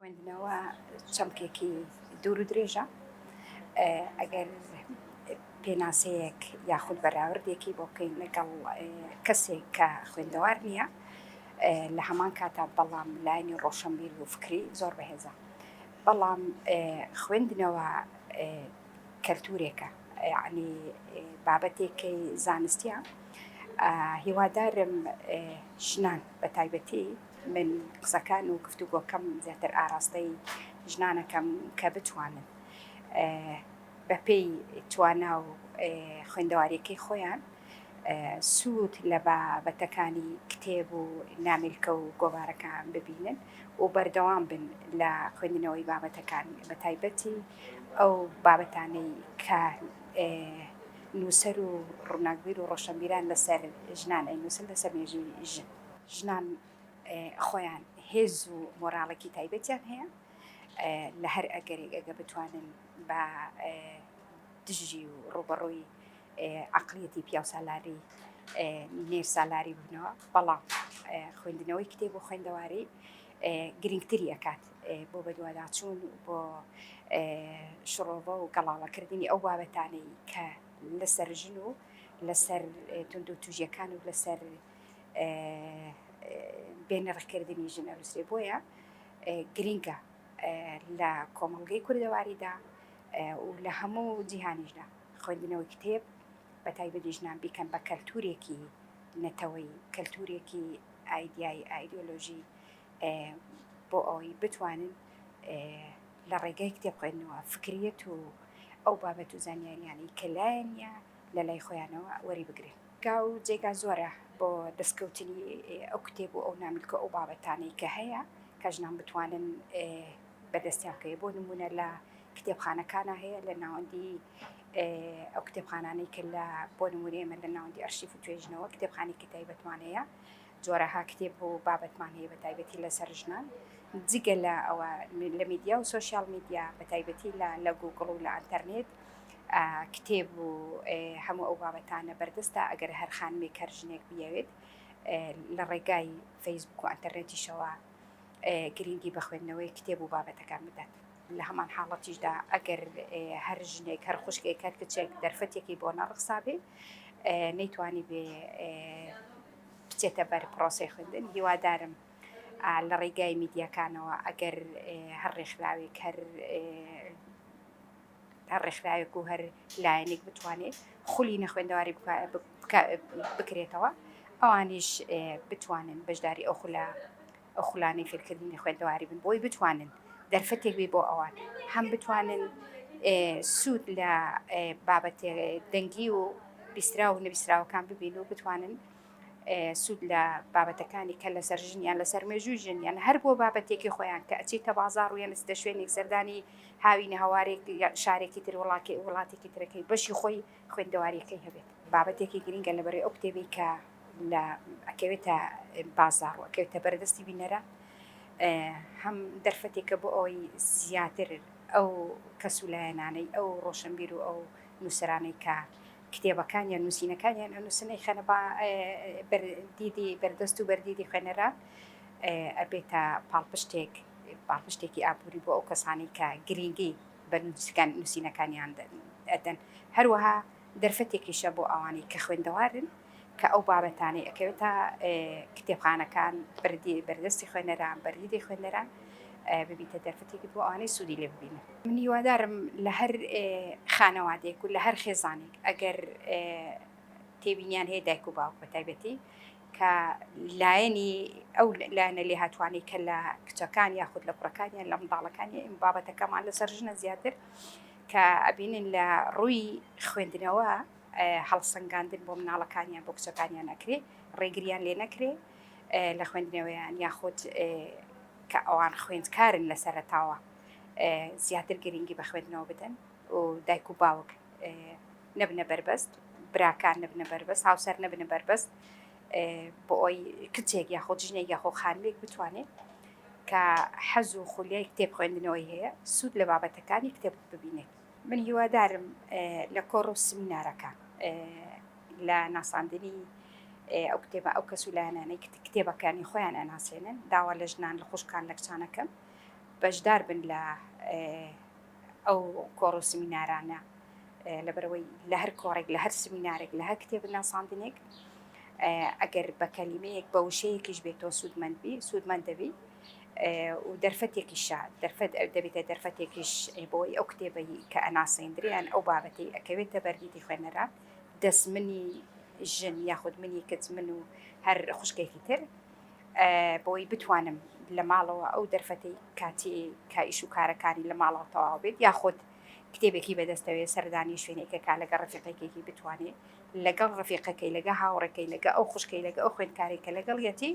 خوێندنەوە چەمکێکی دوور و درێژە ئەگەر پێناسەیەک یاخود بەراوردێکی بۆ بکەین لەگەڵ کەسێک کە خوێندەوار نییە لە هەمان کاتا بەڵام لایانی ڕۆشنبیر و فکری زۆر بەهێزە بەڵام خوێندنەوە کەلتورێکە عنی بابەتێکی زانستیە هیوادارم ژنان بە تایبەتی من قسەکان و گفتوگۆکەم زیاتر ئاراستەی ژنانەکەم کە بتوانن بەپێی توانا و خوێندەواریەکەی خۆیان سوود لە بابەتەکانی کتێب و نامیلکە و گۆوارەکان ببینن و بەردەوام بن لە خوێندنەوەی بابەتەکان بە تایبەتی ئەو بابەتانەی کە نووسەر و ڕووناکبیر و ڕۆشنبیران لەسەر ژنان ئەی نووسن لەسەر مێژووی ژن. ژنان خۆیان هێز و مۆراڵێکی تایبەتیان هەیە لە هەر ئەگەرێک ئەگە بتوانن بە دژی و ڕوبەڕووی عقلیەتی پیاوسالاری نێر سالاری بنەوە بەڵام خوێندنەوەی کتێب و خوێندەواری گرنگتری ئەکات بۆ بەدوواداچوون بۆ شڕۆڤە و گەڵاڵەکردنی ئەو بابەتانەی کە لەسەر ژن و لەسەر تونند و توژەکان و لەسەر بێ نرخ کردنی ژن ئەنوسرێ بۆیە گرینگە لە کۆمەڵگەی کوردەواریدا و لە هەموو جیهانیشدا خوێندنەوەی کتێب بە تایبەتی ژنان بیکەن بە کەلتورێکی نەتەوەی کەلتورێکی ئایدیایی ئایدۆلۆژی بۆ ئەوەی بتوانن لە ڕێگەی کتێب خوێندنەوە فکریت و ئەو بابەت و زانیاریانی کە لایەنە لە لای خۆیانەوە وەریبگرن. گا و جێگا زۆرە بۆ دەستکەوتنی ئەو کتێب و ئەو ناملک و ئەو بابەتانەی کە هەیە کە ژنان بتوانن بە دەستیان بکەوێت، بۆ نموونە لە کتێبخانەکانا هەیە لە ناوەندی ئەو کتێبخانانەی کە لە بۆ نموونە ئێمە لە ناوەندی ئەرشیف و توێژینەوە کتێبخانێکی تایبەتمان هەیە جۆرەها کتێب و بابەتمان هەیە بە تایبەتی لەسەر ژنان، جگە لە ئەوە لە میدیا و سۆشیال میدیا بە تایبەتی لە لە گووگڵ و لە ئەنتەرنێت کتێب و هەموو ئەو بابەتانە بەردەستە ئەگەر هەر خانمێک هەر ژنێک بیاوێت لە ڕێگای فەیسبوک و ئەنتەرنێتیشەوە گرنگی بە خوێندنەوەی کتێب و بابەتەکان بدات. لە هەمان حاڵەتیشدا ئەگەر هەر ژنێک هەر خوشکێک هەر کچێک دەرفەتێکی بۆ نەڕخسابێ نەیتوانی بێ بچێتە بەر پرۆسەی خوێندن هیوادارم لە ڕیگای میدیاکانەوە ئەگەر هەر ڕێکخراوێک هەر هەر ڕێکخراوێک و هەر لایەنێک بتوانێت خولی نەخوێندەواری بکرێتەوە ئەوانیش بتوانن بەشداری ئەو خولە ئەو خولانەی فێرکردنی خوێندەواری بن بۆی بتوانن دەرفەتێک بێ بۆ ئەوان هەم بتوانن سوود لە بابەت دەنگی و بیسترا و نویسراوەکان ببین و بتوانن سوود لە بابەتەکانی کە لەسەر ژنیان لەسەر مێژووی ژنیان هەر بۆ بابەتێکی خۆیان کە ئەچیتە بازار و یانستە شوێنێک سەردانی هاوینە هەوارێک شارێکی تر وڵاتی وڵاتێکی ترەکەی بەشی خۆی خوێندەوارییەکەی هەبێت بابەتێکی گرنگە لەبەرەی ئەو کتێبەی کە لە ئەکەوێتە بازاڕ و ئەکەوێتە بەرە دەستی بینەرە هەم دەرفەتێکە بۆ ئەوەی زیاتر ئەو کەس و لایەنانەی ئەو ڕۆشنبیر و ئەو نووسرانەی کە کتێبەکان یان نووسینەکانیان ئەنووسنەی خەنە دیدی بەردەست و بەردیدی خوێنەران ئەبێتە پاڵپشتێک پاڵپشتێکی ئابووری بۆ ئەو کەسانی کە گرنگی بە نووسەکان نووسینەکانیان ئەدەن، هەروەها دەرفەتێکیشە بۆ ئەوانەی کە خوێندەوارن کە ئەو بابەتانەی ئەکەوێتە کتێبخانەکان بردی بەردەستی خوێنەران بەریدی خوێنەران ببیتە دەرفەتێکی بۆ ئەوانەی سوودی لێ ببینن من هیوادارم لە هەر خانەوادێک و لە هەر خێزانێک ئەگەر تێبینیان هەیە دایک و باوک بە تایبەتی کە لایەنی ئەو لایەنە لێهاتووانەی کە لە کچەکان یاخود لە کوڕەکانیان لە منداڵەکانی ئەم بابەتەکەمان لەسەر ژنە زیاتر کە ئەبینن لە ڕووی خوێندنەوە هەڵسەنگاندن بۆ مناڵەکانیان بۆ کچەکانیان ئەکرێ ڕێگریان لێ نەکرێ لە خوێندنەوەیان یاخود کە ئەوان خوێندکارن لە سەرتاوە زیاتر گرنگی بە خوێندنەوە بدەن و دایک و باوک نەبنە بەربەست براکان نەبنە بەربەست هاوسەر نەبنە بەربەست بۆ ئەوی کچێک یاخۆ جژنێک یاخۆ خانمێک بتوانێت کە حەز و خولیای کتێب خوێندنەوەی هەیە سوود لە بابەتەکانی کتێب ببینێت من هیوادارم لە کۆڕ و سمینارەکە لە ناساندنی ئەو کتێبە ئەو کەس و لایەنانەی کتێبەکانی خۆیان ئەناسێنن داوا لە ژنان لە خوشکان لە کچانەکەم بەشدار بن لە ئەو کۆڕ و سمینارانە لەبەرەوەی لە هەر کۆڕێک لە هەر سمینارێک لە هەر کتێب ناساندنێک ئەگەر بە کەلیمەیەک بە وشەیەکیش بێت تۆ سوودمەندبی سوودمەند دەبی و دەرفەتێکیشە دەرفەت دەبێتە دەرفەتێکیش بۆی ئەو کتێبەی کە ئەناسەندریان ئەو بابەتی ئەکەوێتە بەرگیتی خوێنەرە دەست منی ژن یاخود منی کچ من و هەر خوشکێکی تر بۆی بتوانم لە ماڵەوە ئەو دەرفەتی کاتی کایش و کارەکانی لە ماڵەوە تەواو بێت یاخود کتێبێکی بەدەستەوێت سەردانی شوێنێکە کا لەگە ڕفیقێکێکی بتوانێت لەگەڵ ڕفیقەکەی لەگە هاوڕەکەی لەگە ئەو خوشکەی لەگە ئەو خوێندکارێکە لەگەڵ یەتی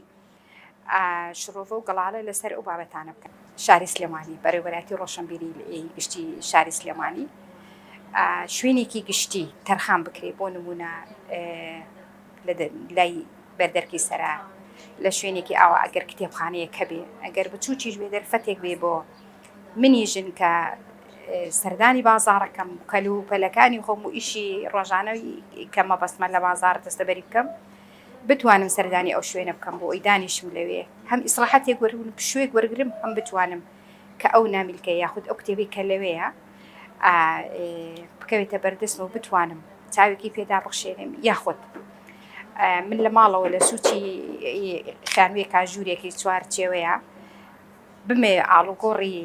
شرۆڤە و گەڵاڵە لەسەر ئەو بابەتانە بکەن شاری سلێمانی بەرەوەراتی ڕۆشنبیری گشتی شاری سلێمانی شوێنێکی گشتی تەرخان بکرێت بۆ نمونە لە لای بەردەرکی سەرا لە شوێنێکی ئاوا ئەگەر کتێبخانەیە کە بێ ئەگەر بچووکیش بێ دەرفەتێک بێ بۆ منی ژن کە سەردانی بازارەکەم کەل و پەلەکانی خۆم و ئیشی ڕۆژانەوی کە مەبەستمە لە بازار دەستەبەری بکەم بتوانم سەردانی ئەو شوێنە بکەم بۆ ئەوی دانیشم لەوێ هەم ئیسراحەتێک وەرون شوێک وەرگرم هەم بتوانم کە ئەو نامیلکە یاخود ئەو کتێبەی کە لەوێیە بکەوێتە بەردەستم و بتوانم چاوێکی پێدا بخشێنم یاخود من لە ماڵەوە لە سوچی خانوێ کاژوورێکی چوار چێوەیە بمێ ئاڵوگۆڕی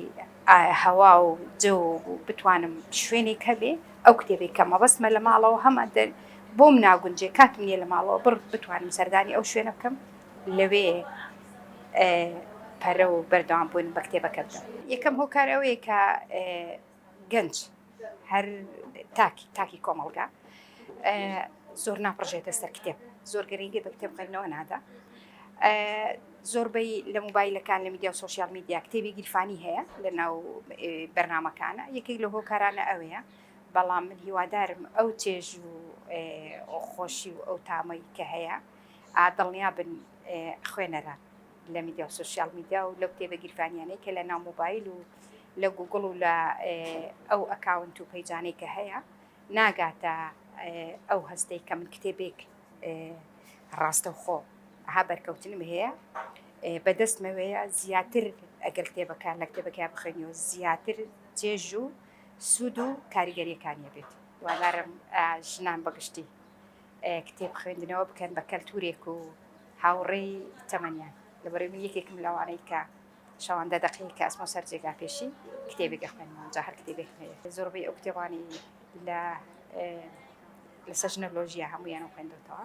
هەوا و جە و بتوانم شوێنێک هەبێ ئەو کتێبی کە مەبەستمە لە ماڵەوە هەمە بۆم ناگونجێ کاتم نیە لە ماڵەوە بڕ بتوانم سەردانی ئەو شوێنە بکەم لەوێ پەرە و بەردەوام بوون بە کتێبەکە بدەن. یەکەم هۆکار ئەوەیە کە گەنج هەر تاک تاکی کۆمەڵگا زۆر ناپڕژێتە سەر کتێب زۆر گرنگی بە کتێب خوێندنەوە نادا زۆربەی لە موبایلەکان لە میدیا و سوسیال میدیا کتێبی گیرفانی هەیە لە ناو بەرنمەکانە یەکێک لە هۆکارانە ئەوەیە بەڵام من هیوادارم ئەو چێژ و خۆشی و ئەو تامەی کە هەیە دڵنیا بن خوێنەران لە میدیا و سۆشیال میدیا و لەو کتێبە گیرفانیانەی کە لە ناو موبایل و لە گوگڵ و لە ئەو ئەکاونت و پەیجانەی کە هەیە ناگاتە ئەو هەستەی کە من کتێبێک ڕاستەوخۆ ها بەرکەوتنم هەیە بەدەستمەوەیە زیاتر ئەگەر کتێبەکان لە کتێبەکەیان بخێنیەوە زیاتر جێژ و سوود و کاریگەریەکانیە بێت وانارم ژنان بەگشتی کتێب خوێندنەوە بکەن بە کەلتورێک و هاوڕێی تەمەنیان لەبەرەی من یەکێکم لەوانەی کە شەواندا دەقەیەک کە ئەسمە سەر جێگا پێشی کتێبێک دەخوێنەوە جا هەر کتێبێک زۆربەی ئەو کتێبانی لە لە سەژنەلۆژیە هەمویان و خوێندەوەتەوە